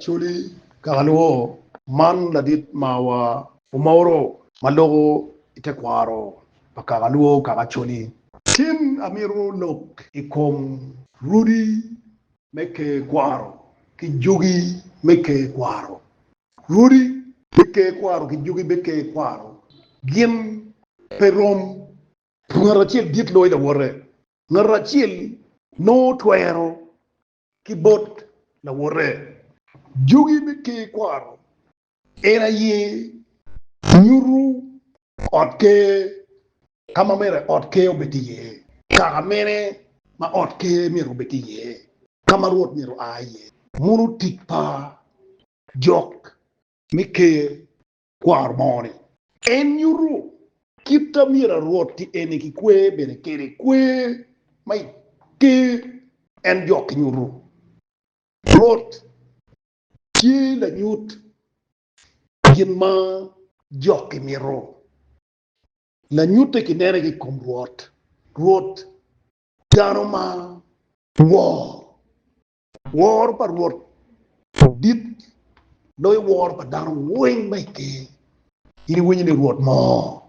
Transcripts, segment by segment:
Coli Kakalwo, Man ladit mawa. Omoro ma loko i tekwaro pa Kakalwo kaka Coli. Tin amito lok i kom rudi me ker kwaro ki jugi me ker kwaro. Rudi me ker kwaro ki jugi me ker kwaro gin pe rom. Ngat acel dit loyo lawote. Ngat acel nongo twero ki bot lawote. Jogi me Ker kwaro en aye nyuto ot ker ka ma myero ot ker obed iye, kaka mene ma ot ker myero obed iye, ka ma Rwot myero oa iye, muno tic pa jok me Ker kwaro mo-ni. En nyuto kit ma myero arwoti eni kikwer bene kwede, kwer ma i ker en jok ki nyuto. Rwot tye lanyut gin ma jok gimito. Lanyutte kinene ki i kom Rwot. Rwot dano ma wor Woro pa Rwot dit, loyo woro pa dano weng ma i ker. In iwinyo ni Rwot moo,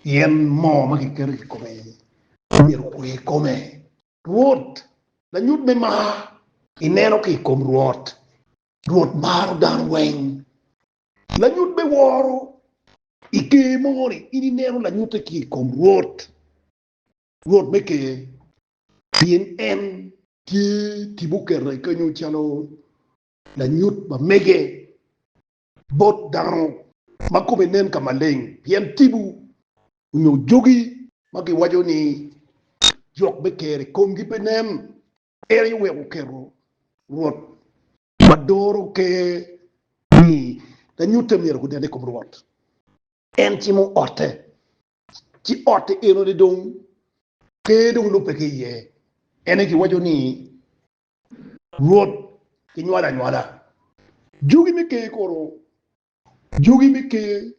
pien moo ma kiketo i kome myero okwe i kome. Rwot, lanyut me mar, ineno ki i kom Rwot. Rwot maro dano weng. Lanyut me woro, i ker mogo-ni, in ineno lanyutte ki i kom Rwot. Rwot me Ker, pien en tye tipo okete kenyo calo lanyut ma mege bot dano ma kome nen ka maleng, pien tipo onyo jogi ma giwaco ni jok me Ker i komgi pe nen, en aye oweko oketo Rwot ma doro Ker ni lanyutte myero gunen i kom Rwot. En cimo otte ci otti eno ni dong ker dong lubbe ki iye, ene kiwaco ni Rwot kinywalo anywala. Jogi me ker kono, jogi me ker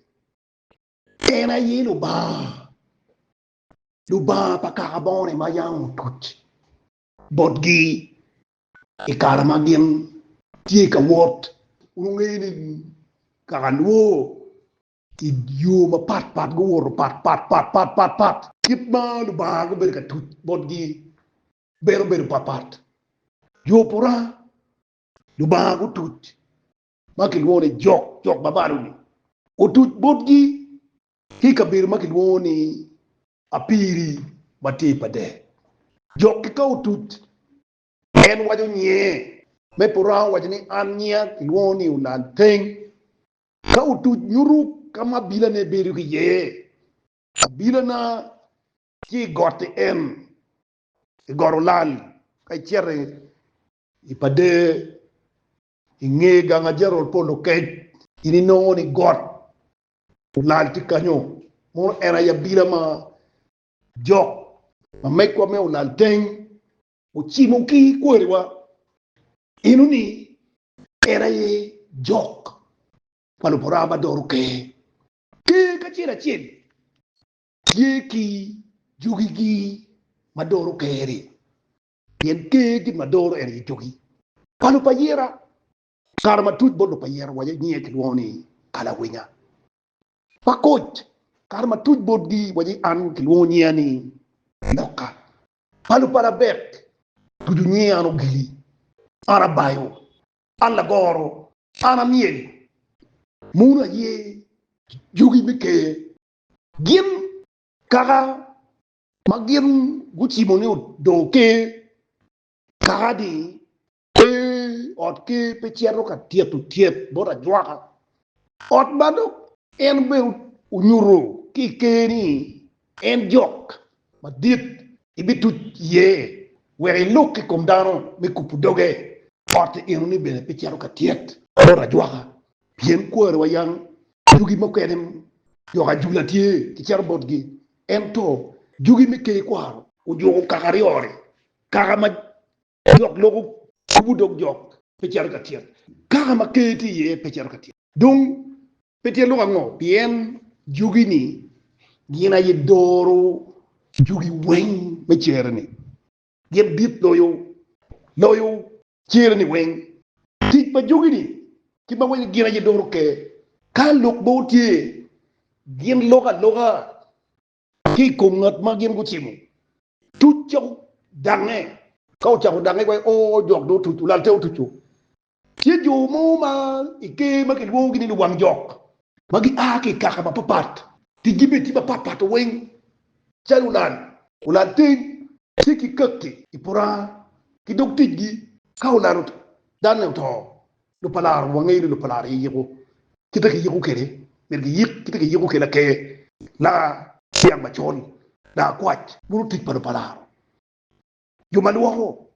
en aye Lubanga, Lubanga pa kaka bongone ma yam otuc botgi i kare ma gin tye ka wot. Wungeyo ni kaka lwor I yo mapat pat guwoto pat pat pat pat pat pat. Kit ma Lubanga gubedo ka tuc botgi bene obedo pat pat. Yo pura Lubanga gutuc ma kilwongo ni jok jok ma malo-ni otuc botgi ki i kabedo ma kilwongo ni Apiri ma tye i Pader. Jok-ki ka otuc, en waco nyinge. Me pura owaco ni, An nyinga kilwongo ni Olalteng, Ka otuc nyuto ka ma abilane bedo ki iye, abilana tye i gotti en, i got olal, ka icito i Pader, i nge gang ajarol pa Olokec, in inongo ni got olal tye kanyo. Mono en aye abila ma jok ma megwa me Olalteng ocimo ki kwariwa eno-ni Ker aye jok pa Luburawa ma doro ker. Ker kacel acel tye ki jogigi ma doro ker-ri, pien ker gin ma doro en aye jogi. Pa lub ayira, Kare matuc bot lub ayira wa nyinge kilwongo ni Kalawinya. Pa koc, Kare matuc botgi wa an kilwongo nyinga ni Loka. Palo pala bek tucu nyinge an ogili, an abayo, an lagoro, an amyel, munu aye jogi me ker gin kaka ma gin gucimo ni odongo ker kaka ni Pe, ot ker pe cito ka tito tyet bot ajwaka, ot ma dok en bene onyuto ki i ker ni en jok madit ibituc iye wek ilok ki i kom dano me kubo doge, otte enoni bene pe cito ka tyet bot ajwaka, pien kwari wa yam jugi mukene dok ajula tye ki cito botgi, ento jugi me ker kwaro ojuko kaka aryo-ri, kaka ma Lok loko kubo dog jok pe cito ka tyet. Kaka ma ker tye iye pe cito ka tyet. Dong, pe tyet loko ango? Pien jogi-ni gin aye doro jogi weng me cere-ni. Gin dit loyo, loyo cere-ni weng. Tic pa jogi-ni ki ma weng gin aye doro ker. Ka lok mogo tye, gin loko aloka ki i kom ngat ma gin gucimo tuc ca odange. Ka ocako dange kwe, o jok dong otuc, olal te otuco. Tye jo mo ma i Ker ma kilwongogi ni luwang jok ma gia ki i kaka mapapat, ticgi bene tye mapat pat weng calo olal, olal teng, tye ki kaki i puranga ki dog ticgi ka olal dane oto Lupalar, wangeyo ni lupalar aye yiko kite kiyiko kwede, myero giyik kite kiyiko kwede laker, laniang macol, lakwac. Bulu tic pa lupalar, jo ma lwoko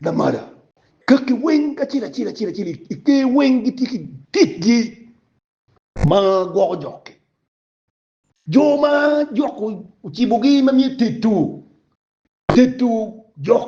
lamala, kaki weng kacel acel acel acel i ker weng gitye ki ticgi ma gwoko jok-ki. Jo ma jok ocibogi ma myero etedo, tedo jok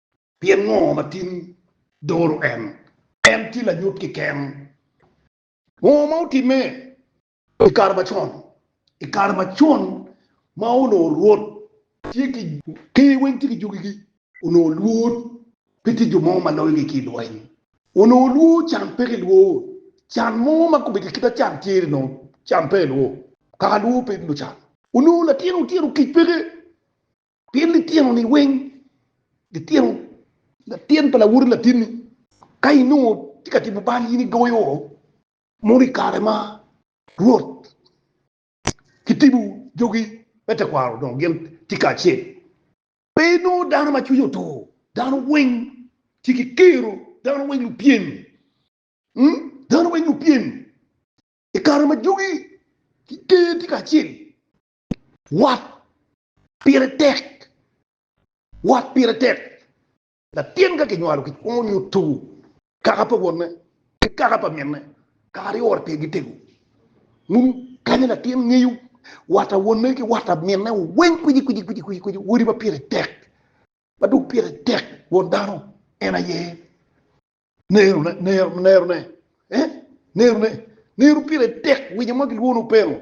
Pien ngo ma tin doro en? En tye lanyut keken. Ngo ma otimme i kare macon? I kare macon ma onongo Rwot tye ki ker weng tye ki jogigi, onongo lwor pe tye jo mo ma loyogi ki i lweny. Onongo lwor can peke i lwor can mo ma kobedo i kite can tyer onongo can pe i lwor kaka lwor pe lucan. Onongo latin otyeno kic peke Pien lityenoni weng, lityeno latin pa lawoti latinni, ka inongo tye ka timo bal in igoyo mono i kare ma Rwot kitibo jogi me tekwaro dong gin tye kacel. Pe inongo dano ma cwinye otur, dano weng tye ki kero, dano weng lupyem, dano weng lupyem i kare ma jogi ki ker tye kacel, wat Pire tek. Wat pire tek. Latin ka kinywalo kikwongo nyuto kaka pa wonne ki kaka pa minne kaka aryo ot pigi tego. Ngun kanya latin ngeyo wat pa wonne ki wat pa minne weng kwici kwici kwici kwici kwici odi ma pire tek ma dong pire tek won dano en aye nerone nero nerone eh nerone nero pire tek winyo ma kilwongo openo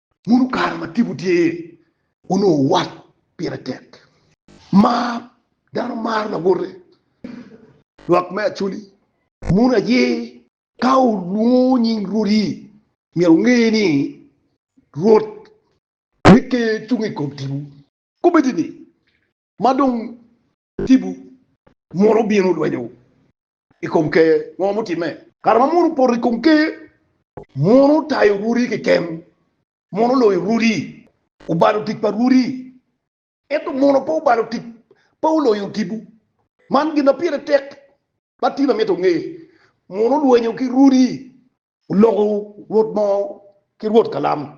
Muno kare ma tipo tye iye, onongo wat pire tek. Mar dano maro lawote. Lwak me Acholi, Muno aye. Ka olwongo nying Rwodi, myero onge ni Rwot me Ker cung i kom tipo. Kobbe-ti ni, ma dong tipo mono bino lwenyo i kom ker, ngo mutimme? Kare ma mono opoto i kom ker, mono otayo rwodi keken, mono oloyo rwodi, obalo tic pa rwodi, ento mono pe obalo tic, pe oloyo tipo. Man gin ma pire tek ma Tina mito onge, mono olwenyo ki rwodi, oloko rwot mo ki rwot kalam,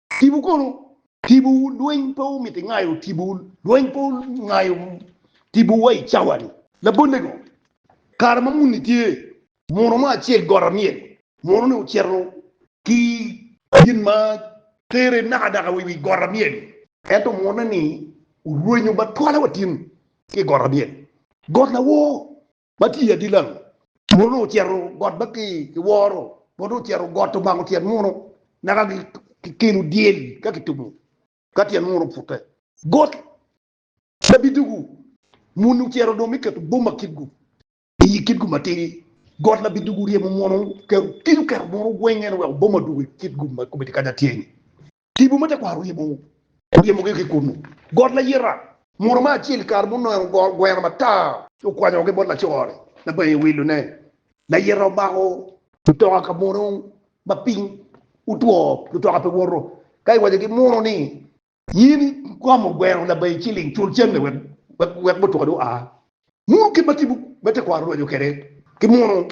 Tipo kono, tipowu lweny pe omiti ngayo tipowu, lweny pe ongayo tipo wa i cawani. Labolle-gu, kare ma muni tye, muno mo acel got amyel, muno-ni ocito ki gin ma tere nakadaka wa i wi got amyel, ento muno-ni orwenyo ba twala wa tin ki i got amyel, got lawor, Ma tye adit lango? Muno ocito got ma ki woro, muno ocito got omako tyen muno, naka ki kelo dyel ka ki tumo ka tyen muno opute. Got ma bidugu, muni ocito dong me keto boma kitgu i yi kitgu matidi. Got la bidugu ryemo muno, kelo kico keto muno gwenge ni weko boma odugu i kitgu ma kome tye kacatye-ni. Tipo ma tekwaro ryemo ryemogi ki kunnu. Got layita, muto me acel i kare munongo goro gweno matar. Okwanyogi bot laco-ni naka bene ewilone. Layita omako mutoka ka mono ma piny otwo, mutoka pe woto. Ka iwaco ki muno ni, In ikomo gweno labayi ciling, cul cente wek wek mutoka-ni oa. Muno kit ma tipo me tekwaro orwenyo kwede ki muno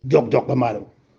jokjok ma malo.